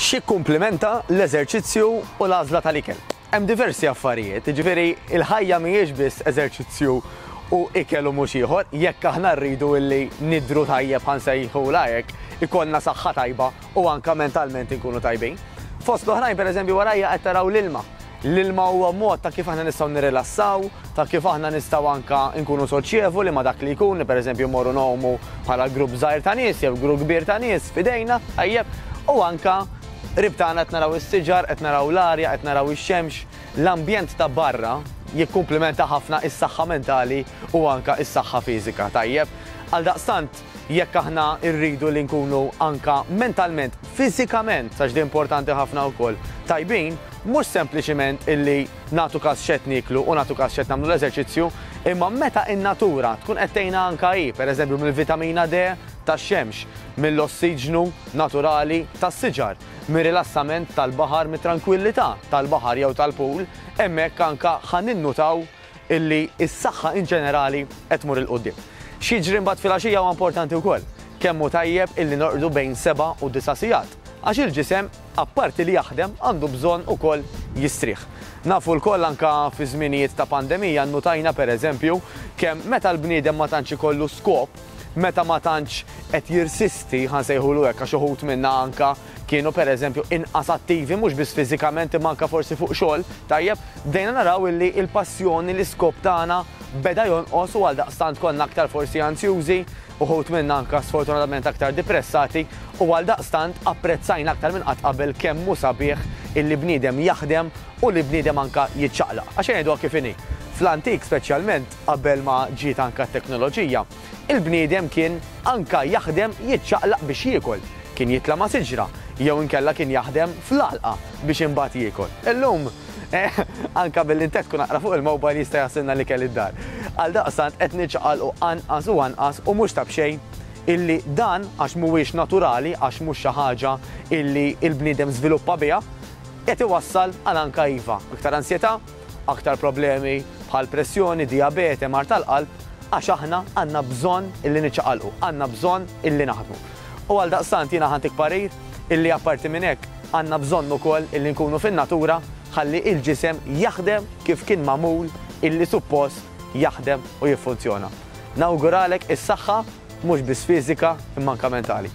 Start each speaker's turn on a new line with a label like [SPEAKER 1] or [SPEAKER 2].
[SPEAKER 1] X'jikkumplimenta l-eżerċizzju u l-għażla tal-ikel? Hemm diversi affarijiet, jiġifieri l-ħajja mhijiex biss eżerċizzju u ikel u mhux ieħor. Jekk aħna rridu li nidhru tajjeb, ħa nsejħulha hekk, ikollna saħħa tajba u anke mentalment inkunu tajbin. Fost l-oħrajn, pereżempju, warajja qed taraw l-ilma. L-ilma huwa mod ta' kif aħna nistgħu nirrilassaw, ta' kif aħna nistgħu anke nkunu soċjevoli ma' dak li jkun li pereżempju mmorru ngħumu bħala grupp żgħir ta' nies jew grupp kbir ta' nies f'idejna, tajjeb, u anke qrib tagħna qed naraw is-siġar, qed naraw l-arja, qed naraw ix-xemx, l-ambjent ta' barra jikkumplimenta ħafna s-saħħa mentali u anke s-saħħa fiżika, tajjeb. Għaldaqstant, jekk aħna rridu li nkunu anke mentalment, fiżikament, għax din importanti ħafna wkoll, tajbin, mhux sempliċiment illi nagħtu kas x'qed nieklu u nagħtu kas x'qed nagħmlu l-eżerċizzju, imma meta n-natura tkun qed tgħinna anke hi, pereżempju mill-vitamina D tax-xemx, mill-ossiġnu naturali tas-siġar, mir-rilassament tal-baħar, mit-trankwillità tal-baħar jew tal-pool, hemmhekk anke ħa ninnutaw illi s-saħħa in ġenerali qed tmur 'il quddiem. X'jiġri mbagħad filgħaxija huwa importanti wkoll. Kemm hu tajjeb illi norqdu bejn seba' u disa' sigħat għax il-ġisem apparti li jaħdem għandu bżonn ukoll jistrieħ. Nafu lkoll anke fi żminijiet ta' pandemija nnutajna pereżempju kemm meta l-bniedem ma tantx ikollu skop, meta ma tantx qed jirsisti, ħa nsejħulu hekk għax uħud minna anke kienu pereżempju inqas attivi mhux biss fiżikament imma anke forsi fuq xogħol, tajjeb, bdejna naraw illi l-passjoni, l-iskop tagħna beda jonqos u għaldaqstant konna aktar forsi anzjużi, uħud minna anke sfortunatament aktar dipressati u għaldaqstant apprezzajna aktar minn qatt qabel kemm hu sabiħ illi bniedem jaħdem u li bniedem anke jiċċaqlaq. Għax ejja ngħiduha kif inhi, fl-antik speċjalment qabel ma ġiet anke t-teknoloġija, Il-bniedem kien anka jaħdem jiċċaqlaq biex jiekol, kien jitla' ma' siġra, jew inkella kien jaħdem fl-għalqa biex imbagħad jiekol. Illum, anka billi ntekktu naqra fuq il-mobile jista' jassilna l-ikel id-dar. Għaldaqstant qed niċċaqalqu anqas u anqas u mhux ta' b'xejn illi dan, għax mhuwiex naturali, għax mhux xi ħaġa illi l-bniedem żviluppa biha, qed iwassal għal anka iva, iktar ansjetà, aktar problemi bħal pressjoni, dijabete, mard tal-qalb, għax aħna għandna bżonn illi niċċaqalqu, għandna bżonn illi naħdmu. U għaldaqstant jiena ħantik parir illi apparti minn hekk għandna bżonn ukoll illi nkunu fin-natura ħalli il-ġisem jaħdem kif kien magħmul illi suppost jaħdem u jiffunzjona. Nawguralek is-saħħa mhux biss fiżika imma anka mentali.